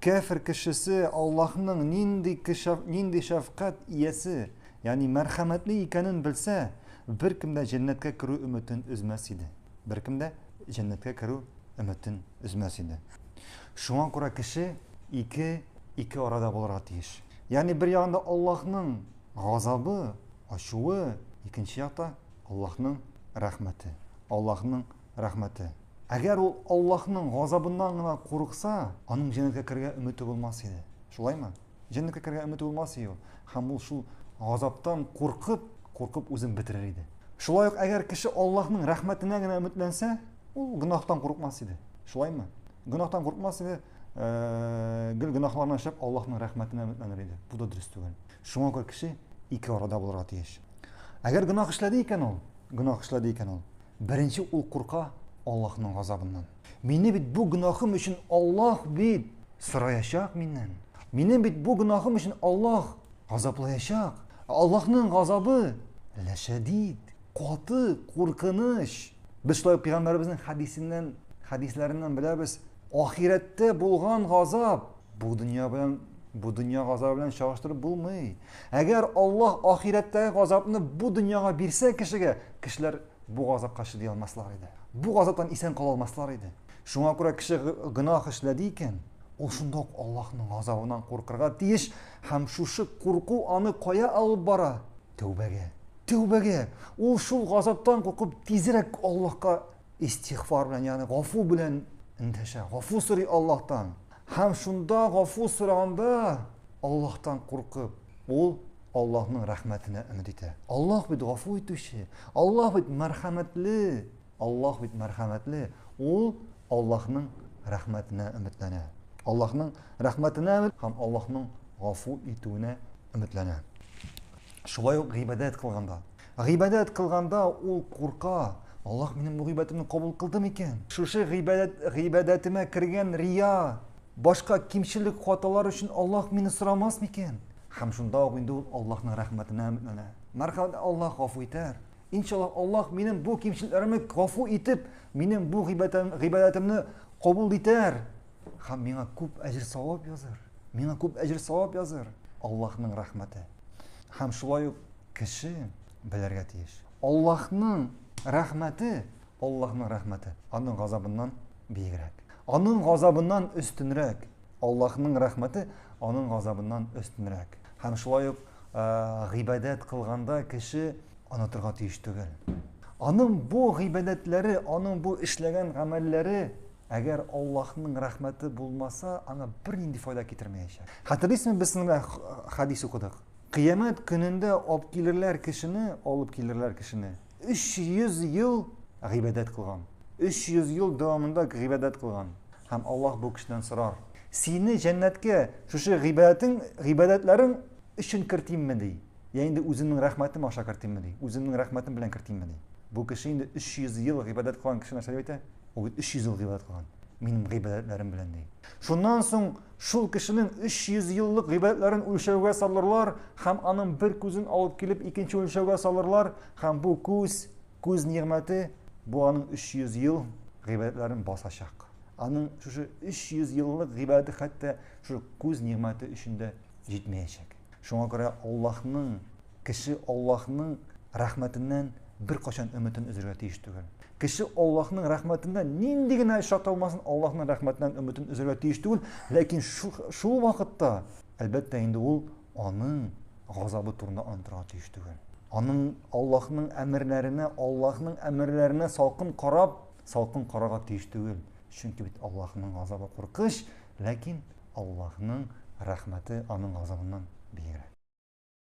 Кәфер кешесе Аллаһның нинди кешәф, нинди шәфкать иясе, ягъни мәрхәмәтле икәнен белсә, беркем дә җәннәткә керү өметен өзмәс иде. Беркем дә җәннәткә керү өметен өзмәс иде. Шуңа күрә кеше ике ике арада булырга тиеш. Ягъни бер ягында Аллаһның газабы, ачуы, икенче якта Аллаһның рәхмәте, Аллаһның Рәхмәте. Әгәр ул Аллаһның газабыннан гына курыкса, аның җәннәткә керергә өмете булмас иде. Шулаймы? Җәннәткә керергә өмете булмас иде ул. Һәм ул шул газаптан куркып, куркып үзен бетерер иде. Шулай ук әгәр кеше Аллаһның рәхмәтенә генә өметләнсә, ул гөнаһтан курыкмас иде. Шулаймы? Гөнаһтан курыкмас иде, э, гел гөнаһларны эшләп Аллаһның рәхмәтенә өметләнер иде. Бу да дөрес түгел. Шуңа күрә кеше ике арада булырга тиеш. Әгәр гөнаһ эшләде икән ул, гөнаһ эшләде икән ул, Беренче ул курка Аллаһның газабыннан. Мине бит бу гөнаһым өчен Аллаһ бит сораячак миннән. Минем бит бу гөнаһым өчен Аллаһ газаплаячак. Аллаһның газабы ләшәдид, каты, куркыныч. Без шулай ук пәйгамбәребезнең хәдисеннән, хәдисләреннән беләбез, ахирәттә булган газап бу дөнья белән бу дөнья газабы белән чагыштырып булмый. Әгәр Аллаһ ахирәттәге газапны бу дөньяга бирсә кешегә, кешеләр бу газапка чыдый алмаслар иде. Бу газаптан исән кала алмаслар иде. Шуңа күрә кеше гынаһ эшләде икән, ул шунда ук Аллаһның газабыннан куркырга тиеш һәм шушы курку аны кая алып бара? Тәүбәгә. Тәүбәгә. Ул шул газаптан куркып тизрәк Аллаһка истигъфар белән, ягъни гафу белән эндәшә. Гафу сорый Аллаһтан. Һәм шунда гафу сораганда Аллаһтан куркып, ул Аллаһның рәхмәтенә өмет итә. Аллаһ бит гафу итүче, Аллаһ бит мәрхәмәтле, Аллаһ бит мәрхәмәтле. Ул Аллаһның рәхмәтенә өметләнә. Аллаһның рәхмәтенә һәм Аллаһның гафу итүенә өметләнә. Шулай ук гыйбадәт кылганда. Гыйбадәт кылганда ул курка, Аллаһ минем бу гыйбадәтемне кабул кылды микән? Шушы гыйбадәт гыйбадәтемә кергән рия, башка кимчелек хаталар өчен Аллаһ мине сорамас микән? Һәм шунда ук инде ул Аллаһның рәхмәтенә өметләнә. Мәрхәмәт Аллаһ гафу итәр. Иншаллаһ, Аллаһ минем бу кимчелекләремне гафу итеп, минем бу гыйбадәтемне кабул итәр, Хам миңа күп әҗер савап языр. Миңа күп әҗер савап языр. Аллаһның рәхмәте. Хам шулай ук кеше белергә тиеш. Аллаһның рәхмәте, Аллаһның рәхмәте аның газабыннан биегрәк. Аның газабыннан өстенрәк. Аллаһның рәхмәте аның газабыннан өстенрәк. Хам шулай ук гыйбадәт кылганда кеше онытырга тиеш түгел. Аның бу гыйбадәтләре, аның бу эшләгән гамәлләре Әгәр Аллаһның рәхмәте булмаса, аңа бернинди файда китермәячәк. Хәтерлисезме, без сиңа хәдис укыдык. Кыямәт көнендә алып килерләр кешене, алып килерләр кешене. 300 ел гыйбадәт кылган. 300 ел дәвамында гыйбадәт кылган. Һәм Аллаһ бу кешедән сорар. Сине җәннәткә шушы гыйбадәтең, гыйбадәтләрең өчен кертимме ди? Я инде үземнең рәхмәтем аша кертимме ди, үземнең рәхмәтем белән кертимме ди. Бу кеше инде 300 ел гыйбадәт кылган кеше нәрсә дип әйтә? Ул бит 300 ел гыйбадәт кылган. Минем гыйбадәтләрем белән ди. Шуннан соң шул кешенең 300 еллык гыйбадәтләрен үлчәүгә салырлар һәм аның бер күзен алып килеп икенче үлчәүгә салырлар һәм бу күз, күз нигъмәте бу аның 300 ел гыйбадәтләрен басачак. Аның шушы 300 еллык гыйбадәте хәтта шушы күз нигъмәте өчен дә җитмәячәк. Шуңа күрә Аллаһның, кеше Аллаһның рәхмәтеннән беркайчан өметен өзергә тиеш түгел. Кеше Аллаһның рәхмәтеннән нинди генә эш аталмасын, Аллаһның рәхмәтеннән өметен өзергә тиеш түгел, ләкин шул, шул вакытта, әлбәттә, инде ул аның газабы турында онытырга тиеш түгел. Аның Аллаһның әмерләренә, Аллаһның әмерләренә салкын карап, салкын карарга тиеш түгел. Чөнки бит Аллаһның газабы куркыныч, Ләкин Аллаһның рәхмәте аның газабыннан биегрәк.